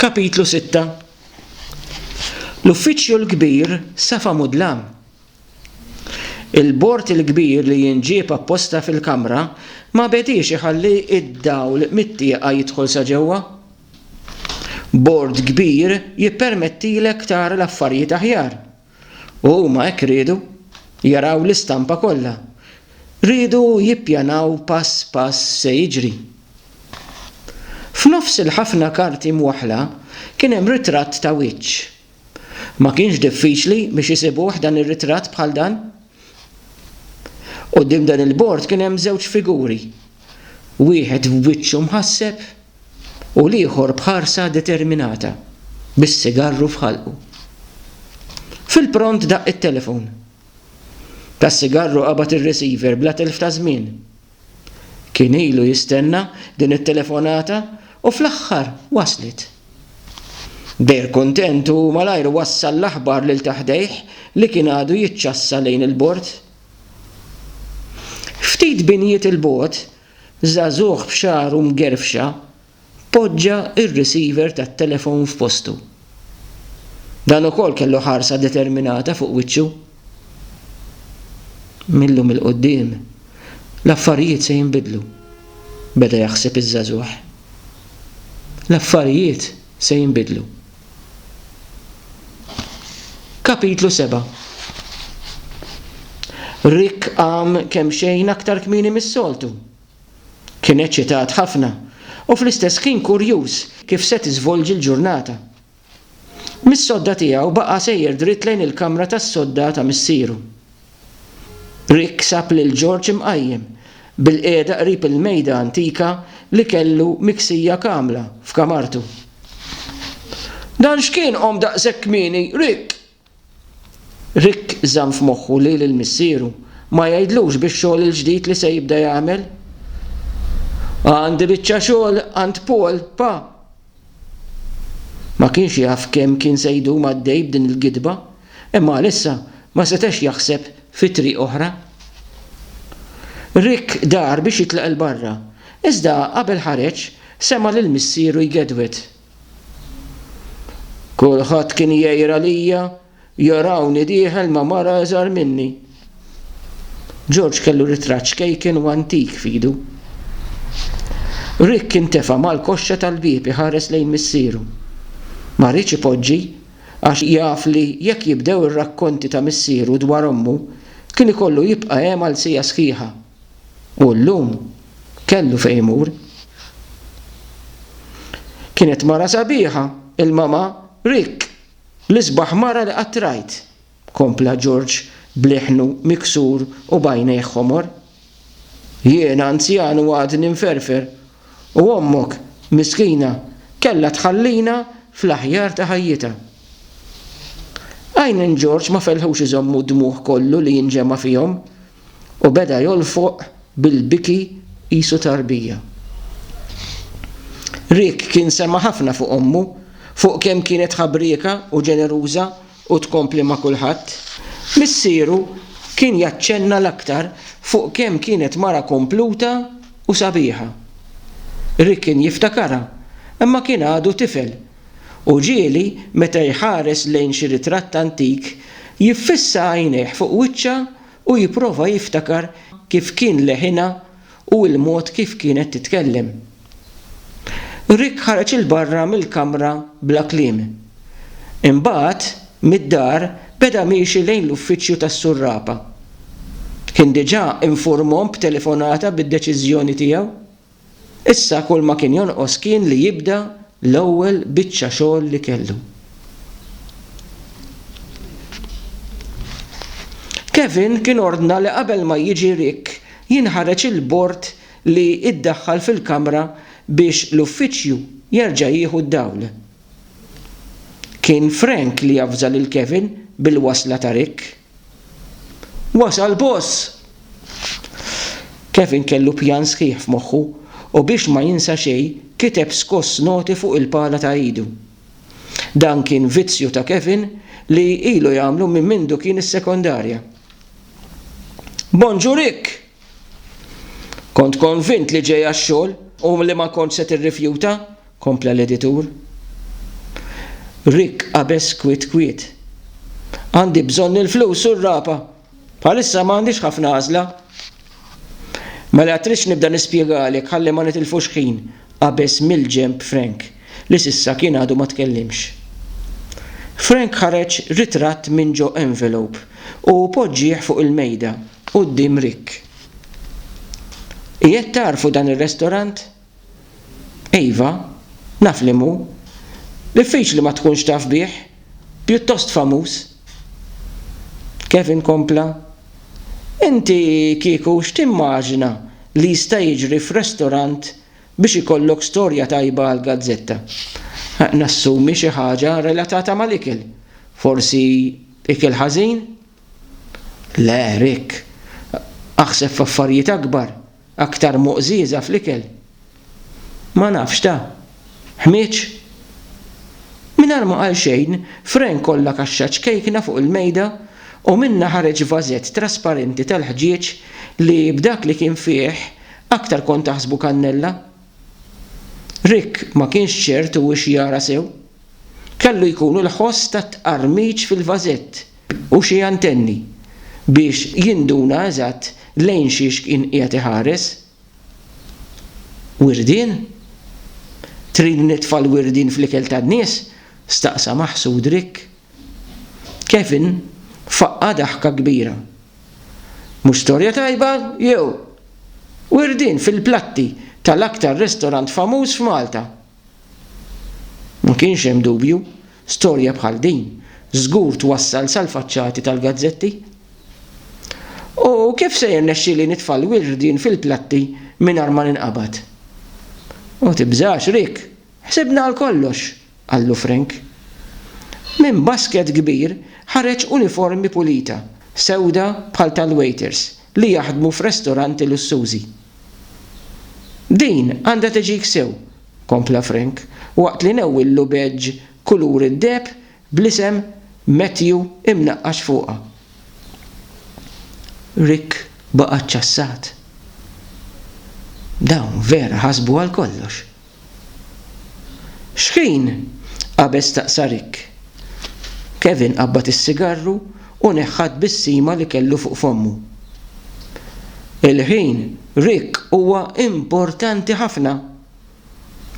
Kapitlu Sitta L-Uffiċċju l-Kbir Safa Mudlam Il-bord il-kbir li jinġieb apposta fil-kamra ma bediex iħalli d-dawl mit-tieqa jidħol sa ġewwa. Bord kbir jippermettilek tara l-affarijiet aħjar. u huma hekk riedu jaraw l-istampa kollha. Riedu jippjanaw pass pass x'se jiġri. F'nofs il-ħafna karti mwaħħla kien hemm ritratt ta' wiċċ. Ma kienx diffiċli biex isibuh dan ir-ritratt bħal dan? Quddiem dan il-bord kien hemm żewġ figuri, wieħed b'wiċċu mħasseb u l-ieħor b'ħarsa determinata, bis-sigarru f'ħalqu. Fil-pront daqq it-telefon. Tas-sigarru qabad ir-receiver bla telf ta' żmien. Kien ilu jistenna din it-telefonata u fl-aħħar waslet. Dejr kuntent u malajr wassal l-aħbar lil ta' ħdejh li kien għadu jiċċassa lejn il-bord. Ftit binjiet 'il bogħod, Żagħżugħ b'xagħru mgerfxa poġġa r-receiver tat-telefon f'postu. Dan ukoll kellu ħarsa determinata fuq wiċċu. Mil-lum 'il quddiem, l-affarijiet se jinbidlu, beda jaħseb iż-żagħżugħ. L-affarijiet? se jinbidlu. Kapitlu 7 Rick qam kemxejn aktar kmieni mis-soltu. Kien eċċitat ħafna u fl-istess ħin kurjuż kif se tiżvolġi l-ġurnata. Mis-sodda tiegħu baqa' sejjer dritt lejn il-kamra tas-sodda ta' missieru. Rick sab lil George imqajjem bilqiegħda qrib il-mejda antika li kellu miksija kamla f'kamartu. Dan x'kien qom daqshekk kmieni, Rick? Rick żamm f'moħħu li lil missieru ma jgħidlux bix-xogħol il-ġdid li se jibda jagħmel. Għandi biċċa xogħol għand Paul, Pa. Ma kienx jaf kemm kien se jdum għaddej b'din il-gidba. Imma għalissa ma setax jaħseb fi triq oħra. Rick dar biex jitlaq 'il barra, iżda qabel ħareġ sema' lil missieru jgedwed. Kulħadd kien jgħir għalija, jarawni dieħel ma' mara iżgħar minni. George kellu ritratt xkejken u antik f'idu. Rick intefa' mal-koxxa tal-bieb iħares lejn missieru. Ma riedx ipoġġi għax jaf li jekk jibdew ir-rakkonti ta' missieru dwar ommu, kien ikollu jibqa' hemm għal siegħa sħiħa. U llum kellu fejn imur. Kienet mara sabiħa, il-mama Rick, l-isbaħ mara li qatt rajt. kompla George b'leħnu miksur u b'għajnejh ħomor. Jiena anzjan u għadni mferfer, u ommok, miskina, kellha tħallina fl-aħjar ta' ħajjitha. Għajnejn George ma felħux iżommu d-dmugħ kollu li inġema' fihom, u beda jolfoq bil-biki qisu tarbija. Rick kien sema' ħafna fuq ommu, fuq kemm kienet ħabrieka u ġeneruża U tkompli ma' kulħadd. Missieru kien jaċċenna l-aktar fuq kemm kienet mara kompluta u sabiħa. Rick kien jiftakarha, imma kien għadu tifel, u ġieli meta jħares lejn xi ritratt antik, jiffissa għajnejh fuq wiċċha u jipprova jiftakar kif kien leħinha u l-mod kif kienet titkellem. Rick ħareġ 'il barra mill-kamra bla kliem. Imbagħad, mid-dar, beda miexi lejn l-uffiċċju tas-surrapa. Kien diġà infurmhom b'telefonata bid-deċiżjoni tiegħu. Issa kulma kien jonqos kien li jibda l-ewwel biċċa xogħol li kellu. Kevin kien ordna li qabel ma jiġi Rick jinħareġ il-bord li iddaħħal fil-kamra biex l-uffiċċju jerġa' jieħu d-dawl. Kien Frank li avża lil Kevin bil-wasla ta' Rick. Wasal boss! Kevin kellu pjan sħiħ f'moħħu u biex ma jinsa xejn kiteb skoss noti fuq il-pala ta' idu. Dan kien vizzju ta' Kevin li ilu jagħmlu minn mindu kien is-sekondarja. Bonġur Rick! Kont konvint li ġej għax-xogħol u li ma kontx se tirrifjuta, kompla l-editur. Rick qabeż kwiet kwiet. Għandi bżonn il-flus u r-rapa, Bħalissa m'għandix ħafna għażla. Mela tridx nibda nispjegalek ħalli ma nitilfux ħin, qabeż mill-ġenb Frank, li s'issa kien għadu ma tkellimx. Frank ħareġ ritratt minn ġo envelope u poġġieh fuq il-mejda quddiem Rick. Qiegħed tagħrfu dan ir-restorant? Iva, naf li mhu. Diffiċli ma tkunx taf bih, pjuttost famuż. Kevin kompla, Inti kieku x'timmaġina li jista' jiġri f'restorant biex ikollok storja tajba għall-gazzetta? Nassumi xi ħaġa relatata mal-ikel. Forsi ikel ħażin? Le, Rick. Aħseb f'affarijiet akbar, Aktar muqżieża fl-ikel? Ma nafx ta' ħmieġ? Mingħajr ma qal xejn, Frank kollha kaxxa ċkejkna fuq il-mejda u minnha ħareġ vażett trasparenti tal-ħġieġ li b'dak li kien fih aktar kont taħsbu kannella. Rick ma kienx ċert hu x'jara sew. Kellu jkunu l-ħoss tat-tqarmiġ fil-vażett. u xi antenni biex jinduna eżatt lejn xiex kien qiegħed iħares. Wirdien? Trid nitfa' l-wirdien fl-ikel tan-nies? staqsa maħsud Rick. Kevin faqqa' daħka kbira. Mhux storja tajba, jew? Wirdien fil-platti tal-aktar restorant famuż f'Malta! Ma kienx hemm dubju, storja bħal din żgur twassal sal-faċċati tal-gazzetti. U kif se jirnexxieli nitfa' l-wirdien fil-platti mingħajr ma ninqabad? Ma tibżax, Rick, ħsibna għal kollox, qallu Frank. Minn basket kbir ħareġ uniformi pulita, sewda bħal tal-wejters li jaħdmu f'restoranti lussużi. Din għandha teġik sew, kompla Frank waqt li newwillu badge kulur id-deheb bl-isem Matthew imnaqqax fuqha. Rick baqa' ċċassat. Dawn vera ħasbu għal kollox! X'ħin? qabeż staqsa Rick. Kevin qabbad is-sigarru u neħħa t-tbissima li kellu fuq fommu. Il-ħin, Rick, huwa importanti ħafna.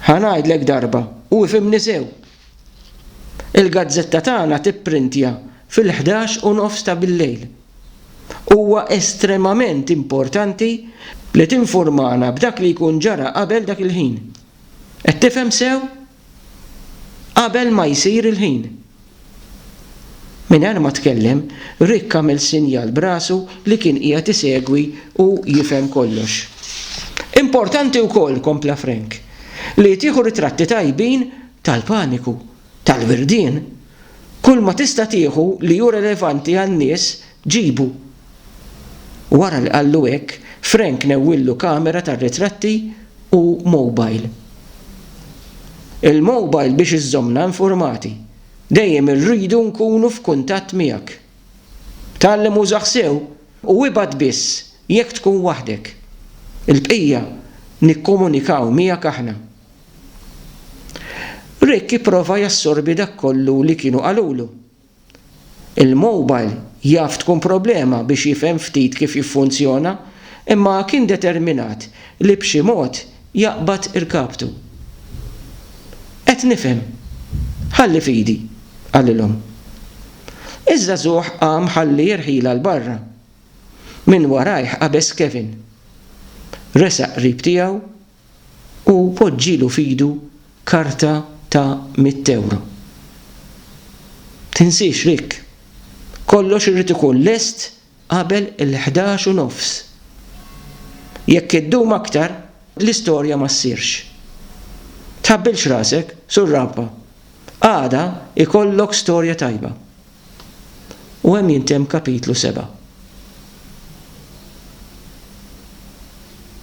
Ħa ngħidlek darba, u ifhimni sew. Il-gazzetta tagħna tipprintja fil-ħdax u nofs ta' billejl. Huwa estremament importanti li tinfurmana b'dak li jkun ġara qabel dak il-ħin. Qed tifhem sew? Qabel ma jsir il-ħin. Mingħajr ma tkellem, Rick għamel sinjal b'rasu li kien qiegħed isegwi u jifhem kollox. Importanti wkoll, kompla Frank, li tieħu ritratti tajbin tal-paniku tal-wirdien, kulma tista' tieħu li hu relevanti għan-nies ġibu. Wara li qallu hekk, Frank newwillu kamera tar-ritratti u mowbajl. Il-mowbajl biex iżżommna infurmati. Dejjem irridu nkunu f'kuntatt miegħek. Tgħallem użah sew u ibgħat biss jekk tkun waħdek. Il-bqija nikkomunikaw miegħek aħna. Rick ipprova jassorbi dak kollu li kienu qalulu. Il-mobile jaf tkun problema biex jifhem ftit kif jiffunzjona imma kien determinat li b'xi mod jaqbad irkabtu. Qed nifhem. Ħalli f'idi, qalilhom. Iż-żagħżugħ qam ħalli jirħilha 'l barra. Minn warajh qabeż Kevin. Resaq qrib tiegħu u poġġilu f'idu karta ta' mitt ewro. Tinsiex Rick! Kollox irid ikun lest qabel il-ħdax u nofs. Jekk iddum aktar, l-istorja ma ssirx. Tħabbilx rasek, surrabba! Għada jkollok storja tajba. U hemm jintemm kapitlu seba'.